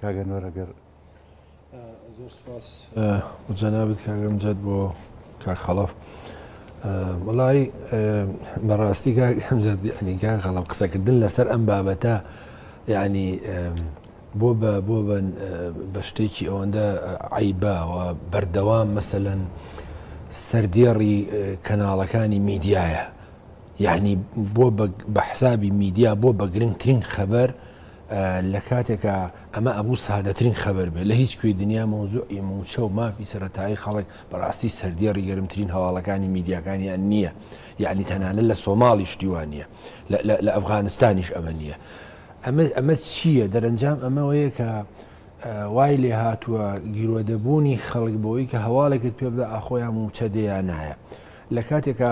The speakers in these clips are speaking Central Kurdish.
کاک ئەنوەر ئەگەر زۆر سپاس بۆ جەنابت کاک ئەمجەد بۆ کاک خەڵەف وەڵی بەڕاستی کاک ئەمجەد یعنی کاک خەڵەف قسەکردن لەسەر ئەم بابەتە یعنی بۆ بە بۆ بە شتێکی ئەوەندە عیباوە بەردەوام مەسەەن سەردێڕی کەناڵەکانی میدیایە یعنی بۆ بە حسابی میدیا بۆ بەگرنگترین خەبەر لە کاتێکا ئەمە ئەبوو سادەترین خەبەر بێت لە هیچ کوێی دنیا مەوزوعی مووچە و مافی سەرەتایی خەڵک بەڕاستی سەردێڕی گەرمترین هەواڵەکانی میدیاکانیان نییە یەعنی تەنانەت لە سۆماڵی شتی وا نییە لە ئەفغانستانیش ئەمە نییە ئەمە چییە دەرەنجام ئەمەوەیە کە وای لێ هاتووە گیرۆدەبوونی خەڵک بۆی کە هەواڵێکت پێ بدە ئاخۆیان مووچە دێیان نایە لە کاتێکا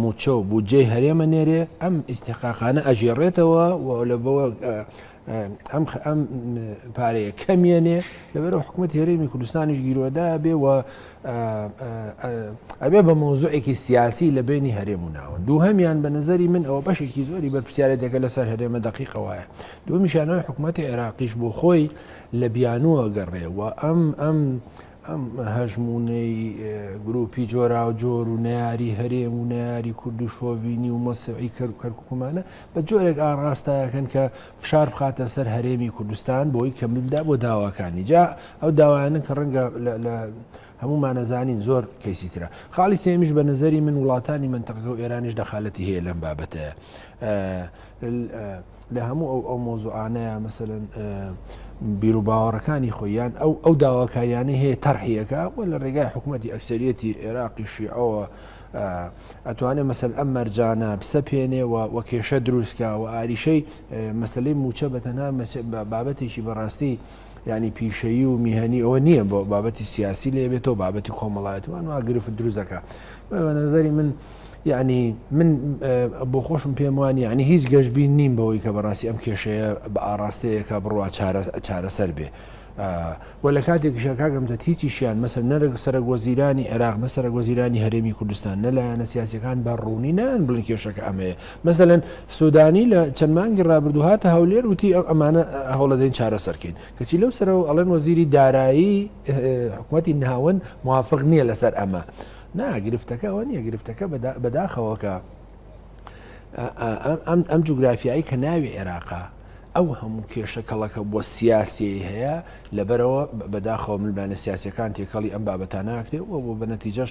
مووچە و بودجەی هەرێمە نێرێ ئەم ئیستحقاقانە ئەژێڕێتەوە و لە بەوە ئەم ئەم پارەیە کەمیێنێ لەبەرە حکوومەت هێرێمی کوردستانیش گیرۆدا بێ و ئەبێ بە مۆزوعێکی سیاسی لە بینی هەرێم و ناوە دوو هەمیان بە نظری من ئەوە بەشێکی زۆری بەرپسیارەتەکە لەسەر هەرێمە دقیقەوەە دومیشانەوە حکوومەتی عێراقیش بۆ خۆی لە بیانووە گەڕێ و ئەم ئەم ئەم هەژموونەی گرووپی جۆراوجۆر و نەیاری هەرێم و نەیاری کورد و شۆڤینی و مەسیعی کەرکوکمانە بە جۆرێک ئاڕاستایەکەن کە فشار بخاتە سەر هەرێمی کوردستان بۆی کە ملدا بۆ داواکانی جا ئەو داوایانە کە ڕەنگە لە هەمومانەزانین زۆر کەسی ترە خاڵی سێمیش بە نظری من وڵاتانی منتەقەکە و ئێرانیش دەخالەتی هەیە لەم بابەتەیە لە هەموو ئەو ئەو مۆزوعانەیە مەسەن بیرروباوەڕەکانی خۆیان ئەو ئەو داواکاریانە هەیە تەرحیەکە و لە ڕێگای حکوومەتتی ئەکسریەتی عێراقیشی ئەوە ئەتوانێت مەسەل ئەم مەرجانە بسەپێنێ و وە کێشە دروستکە و ئاریشەی مەسلەی موچە بەتەنها بابەتێکی بەڕاستی یعنی پیشەیی و میهنی ئەوە نییە بۆ بابەتی سیاسی لێ بێتەوە بابەتی کۆمەڵایەت وان وا گرفت دروزەکە نظری من یعنی من بۆ خۆشم پێم وانی ینی هیچ گەشتبین نیم بەوەی کە بەڕاستی ئەم کێشەیە بە ئاراستەیەەکە بڕوا چارەسەر بێ. و لە کاتێک شەکگەم دە هیچیشیان مەسەر نەرەگ سەرە گۆزیرانی عێراق نە سەرە گۆزیرانی هەرێمی کوردستان نەلایەنە سیاسەکان بە ڕوونی نان بڵی کێشەکە ئەمەیە مەسەلەن سودانی لە چەند مانگی رابردوو هاتە هەولێر وتی ئەم ئەمانە هەوڵەدەین چارەسەرکەین کەچی لەو سەرەوە ئەڵێن وەزیری دارایی حکوومەتتی ناوەند موافق نییە لەسەر ئەمە ناگرفتەکە ئەوە نییە گرفتەکە بەداخەوەکە ئەم جوگرافیایی کە ناوی عێراقا ئەو هەموو کێشە کەڵەکە بۆ سیاسی هەیە لەبەرەوە بەداخەوە ملبانە سیاسەکان تێکەڵی ئەم بابەتانناکرێ و بۆ بە نەتیجەش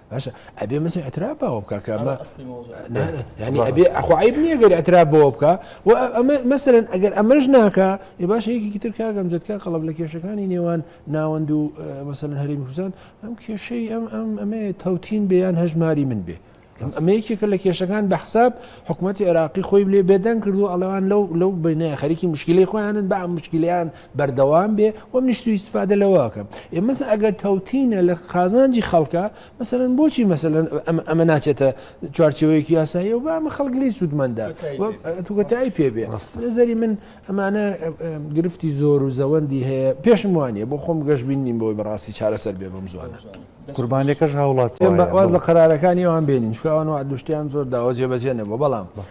باشە ئەبێ مەسە ئەترا باوە بکە کە ئەمە ینی ئەبێ ئەخوایب نییە گەر ئەترا بۆ بکە و ئەمە مەسەرن ئەگەر ئەمەش ناکە ێ باش یەکێکی تر کاگەم جەتکە قەڵب لە کێشەکانی نێوان ناوەند و مەسەن هەرێ کوردستان ئەم کێشەی ئەم ئەم ئەمێ تەوتین بێیان هەژماری من بێ. ئەمە یەکێکە لە کێشەکان بە حساب حکوومەتتی عێراقی خۆی لێ بێدەنگ کردو ئەلوان لەو لەو بینە خەریکی مشکلی خۆیانن بە مشکلیان بەردەوام بێ و منیش سوی استفادە لەوەکەم ئێمەس ئەگەر تەوتینە لە قازانجی خەڵکە مەسەرەن بۆچی مەسەن ئەمە ناچێتە چوارچەوەیەکی یاسایی و بامە خەڵک لی سوودمەندا توگەتایی پێبێ نظری من ئەمانە گرفتی زۆر و زەوەندی هەیە پێشم وانە بۆ خۆم گەشت بین نیم بۆی بەڕاستی چارەسەر بێ بەم زوانە قوربانەکەش هاوڵات واز لە قرارەکانی ئەوان بێنین شوان و دوشتیان زۆر داوە جێبەجێ نەبوو بەڵام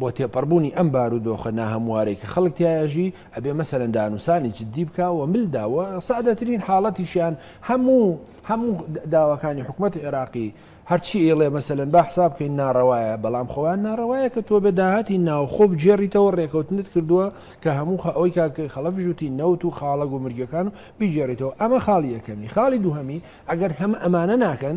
بۆ تێپەڕبوونی ئەم بارو دۆخە ناهەموارەی کە خەڵک تیای ئەژی ئەبێ مەسەلەن دانوسانی جددی بکا و مل دا و سادەترین حاڵەتیشیان هەموو هەموو داواکانی حکوومەتی عێراقی هەرچی ئێڵێ مەسەلەن با حساب بکەین ناڕەوایە بەڵام خۆیان ناڕەوایە کە تۆ بە داهاتی ناوخۆ بگێڕیتەوە ڕێکەوتنت کردووە کە هەموو ئەوەی کاکەی خەڵە بژوتی نەوت و خاڵە گومرگەکان و بیگێڕیتەوە ئەمە خاڵی یەکەمی خاڵی دووهەمی ئەگەر هەم ئەمانە ناکەن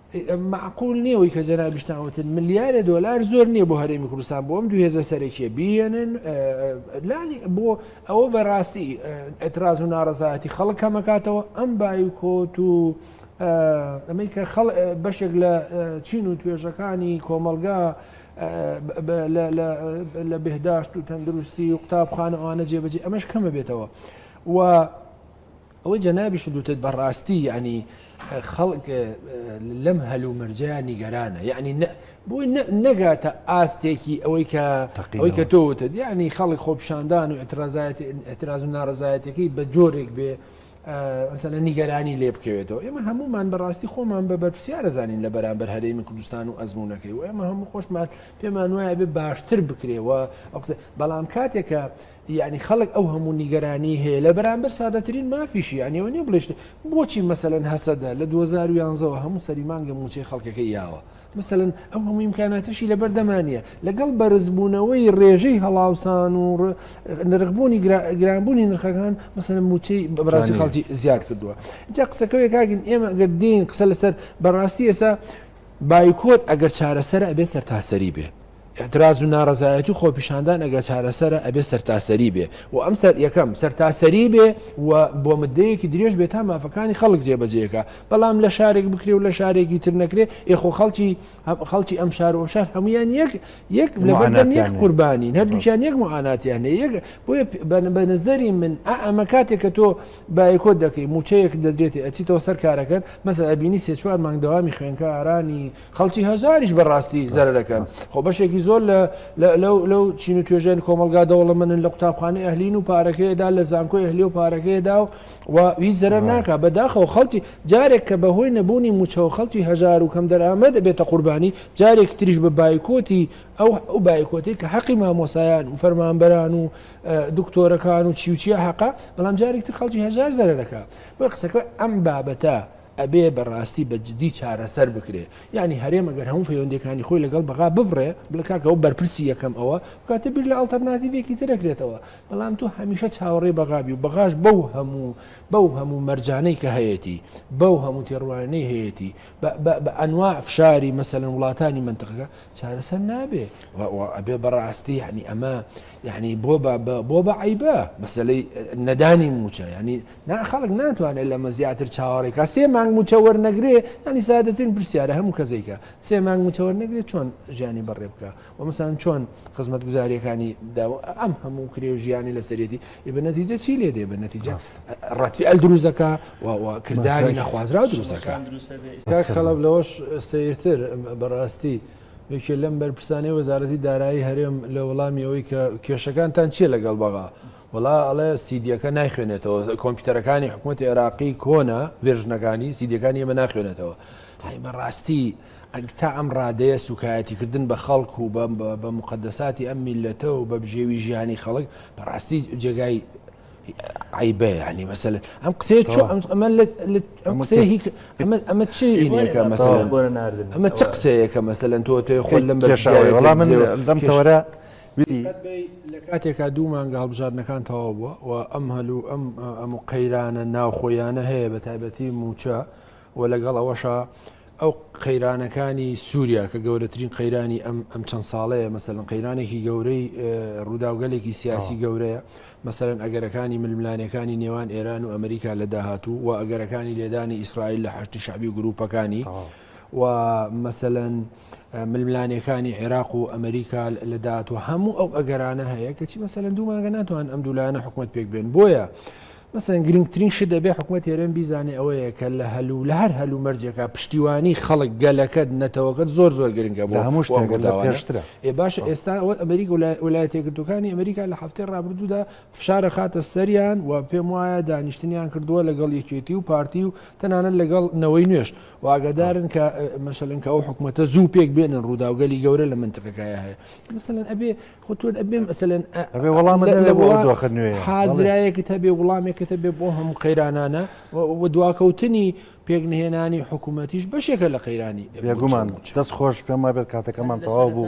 مەعقول نیە وەی کە جەنابیشتان وتن ملیارێ دۆلار زۆر نییە بۆ هەرێمی کوردستان بۆم دوو هێزە سەرەکیە بیێنن لانی بۆ ئەوە بەڕاستی ئەتراز و ناڕزایەتی خەڵک کەمەکاتەوە ئەم بایکۆت و ئەمەی کە خەڵ بەشێک لە چین و توێژەکانی کۆمەلگا لە بهداشت و تەندروستی و قوتابخانەوانە جێبەجێ ئەمەش کەمە بێتەوە و ئەوەی جەنابیشت وتت بەڕاستی یەعنی خەڵک لەم هەل و مەرجە نیگەرانە یەعنی بۆی نەگاتە ئاستێکی ئەوەی کە ئەوەی کە تۆ وتت یعنی خەڵک خۆپشاندان و اعتراز و ناڕزایەتەکەی بە جۆرێک بێ ئەسەنە نیگەرانی لێ بکەوێتەوە ئێمە هەمومان بەڕاستی خۆمان بە بەرپسیارە زانین لە بەرامبەر هەرێمی کوردستان و ئەزمونونەکەی و ئێمە هەموو خۆشمان پێمان وایە بێ باشتر بکرێەوە بەڵام کاتێکە یەعنی خەڵک ئەو هەموو نیگەرانیی هەیە لە بەرامبەر سادەترین مافیشی، یەعنی ئەوە نییە بڵێی شتێ، بۆچی مەسەلەن هەسەدە لە دوو هەزار و یانزە وە هەموو سەری مانگە مووچەی خەڵکەکەی یاوە؟ مەسەلەن ئەو هەموو ئیمکاناتەشی لە بەردەما نییە، لەگەڵ بەرزبوونەوەی رێژەی هەڵاوسان و نرخبوونی گرانبوونی نرخەکان مەسەلەن مووچەی بەڕاستی خەڵکی زیاد کردووە. جا قسەکەوێ کاکن ئێمە گەر دێین قسە لەسەر بەڕاستی ئێستا بایکۆت ئەگەر چارەسەرە ئەبێ سەرتاسەری بێ. ئیعتراز و نارەزایەتی و خۆپیشاندان ئەگەر چارەسەرە ئەبێ سەرتاسەری بێ و ئەم سەر یەکەم سەرتاسەری بێ و بۆ مدەیەکی درێژ بێ تا مافەکانی خەڵک جێبەجێکە بەڵام لە شارێک بکرێ و لە شارێکی تر نەکرێ ئێخۆ خەڵکی خەڵکی ئەم شار و شار هەمویان یەک یەک لەبەردەم یەک قوربانی هەردووچیان یەک معاناتیان هەیە یەک بۆیە بە نظری من ئەمە کاتێک کە تۆ بایکۆ دەکەی موچەیەک دەدرێتی ئەچیتەوە سەر کارەکەت مەسە ئەبینی سێ چوار مانگ دەوامی خوێنکارانی خەڵکی هەژاریش بە ڕاستی زەرەکەن خۆ بەشێکی زۆر لەو چین و توێژێن کۆمەلگا دەوڵەمەنن لە قوتابخانەی ئەهلین و پارەکەیدا لە زانکۆی ئەهلی و پارەکەیدا و وی زەرەر ناکە بەداخەوە خەڵکی جارێک کە بەهۆی نەبوونی موچەوە خەڵکی هەژار و کەم دەرامە دەبێتە قوربانی جارێک تریش بە بایکۆتی ئەو ئەو بایکۆتی کە حەقی مامۆسایان و فەرمانبەران و دکتۆرەکان و چیوچیە حەقا بەڵام جارێکتر خەڵکی هەژار زەرەکە بە قسەکە ئەم بابەتە ئەبێ بە ڕاستی بە جدی چارەسەر بکرێ یانی هەرێمە گەر هەموو پەیوەندیەکانی خۆی لەگەڵ بەغا ببڕێ بڵێ کاکە ئەو بەرپرسی یەکەم ئەوە بکاتە بیر لە ئەڵتەرناتیڤێکی ترەکرێتەوە بەڵام تۆ هەمیشە چاوەڕێی بەغابی و بەغاش بەو هەموو بەو هەموو مەرجانەی کە هەیەتی بەو هەموو تێڕوانەی هەیەتی بە ئەنوا فشاری مەسەلەن وڵاتانی منتقەکە چارەسەر نابێ ئەبێ بەڕاستی یعنی ئەمە یعنی بۆ بۆ بە عیبە مەسلەی نەدانی موچە ینی نا خەڵک ناتوانێت لەمە زیاتر چاوەڕێ کا سێ مانگ موچە وەرنەگرێ ینی سادەترین پرسیارە هەموو کەسێکە سێ مانگ موچە وەرنەگرێت چۆن ژیانی بەڕێ بکە و مەسان چۆن خزمەت گوزاریەکانی داوە ئەم هەموو کرێ و ژیانی لەسەرێتی ئی بە نەتیجە چی لێ دێ بە نەتیجە ڕەتی ئەل دروزەکە کردانی نەخوازرا دروزەکە خەڵب لەوەش سەیرتر بەڕاستی. یەکێ لەم بەرپرسانی وەزارەتی دارایی هەرێم لە وەڵامیەوەی کە کێشەکانتان چییە لەگەڵ بەغا وەڵا ئەڵێ سیدیەکە نایخوێنێتەوە کۆمپیوتەرەکانی حکوومەتی عێراقی کۆنە ڤێژنەکانی سیدیەکانی ئێمە ناخوێنێتەوە تای بەڕاستی ئەگ تا ئەم ڕادەیە سوکایەتیکردن بە خەڵک و بە مقدەساتی ئەم میلەتە و بە بژێوی ژیانی خەڵک بەڕاستی جێگای عیبە ینی مەسل ئەم قسێ ئەمە چی ئینەکە مەسەن ئەمە چ قسەیەکە مەسەن تۆ تێ خۆل لەم بەشڵام من لەم تەوەرە دیقەت بەی لە کاتێکا دوو مانگە هەڵبژاردنەکان تەواو بووە و ئەم هەل و ئەم ئەم و قەیرانە ناوخۆیانە هەیە بە تایبەتی موچە و لەگەڵ ئەوەشە ئەو قەیرانەکانی سووریا کە گەورەترین قەیرانی ئەم ئەم چەند ساڵەیە مەسەن قەیرانێکی گەورەی ڕووداوگەلێکی سیاسی گەورەیە مەسەرەن ئەگەرەکانی ململانەکانی نێوان ئێران و ئەمریکا لە داهاتوو و ئەگەرەکانی لێدانی ئیسرائیل لە حشتی شعبی و گروپەکانی و مەسەلەن ململانێکانی عێراق و ئەمریکا لە داهاتوە هەموو ئەو ئەگەرانە هەیە کەچی مەسەلەن دوو مانگە ناتوان ئەم دوولایەنە حکوومەت پێک بێن بۆیە مەسەن گرنگترین شت دەبێ حکوومەت هێرێن بیزانێ ئەوەیە کە لە هەلو لە هەر هەلو مەرجێکە پشتیوانی خەڵک گەلەکەت نەتەوەکەت زۆر زۆر گرنگە بۆ هەموو شتێکداواشترە ئێ باشە ئێستا ئەوە ئەمریک وڵایەتێکردەکانی ئەمریکا لە هەفتەی ڕابردوودا فشارە خاتە سەریان و پێم وایە دانیشتنیان کردووە لەگەڵ یەکێتی و پارتی و تەنانەت لەگەڵ نەوەی نوێش و ئاگادارن کە مەشەلن کە ئەو حکوومەتە زوو پێک بێنن ڕووداوگەلی گەورە لە منتەکەکایە هەیە مثلەن ئەبێ خۆتوت ئەبێ مەسەن ئەبێ وەڵام لە وڵاخت نوێ حازرایەکت هەبێ وڵامێکت هەبێ بۆ هەموو قەیرانانە و دواکەوتنی پێکنهێنانی حکوومەتیش بەشێکە لە قەیرانی بێگومان دەست خۆش پێم وابێت کاتەکەمان تەواو بوو.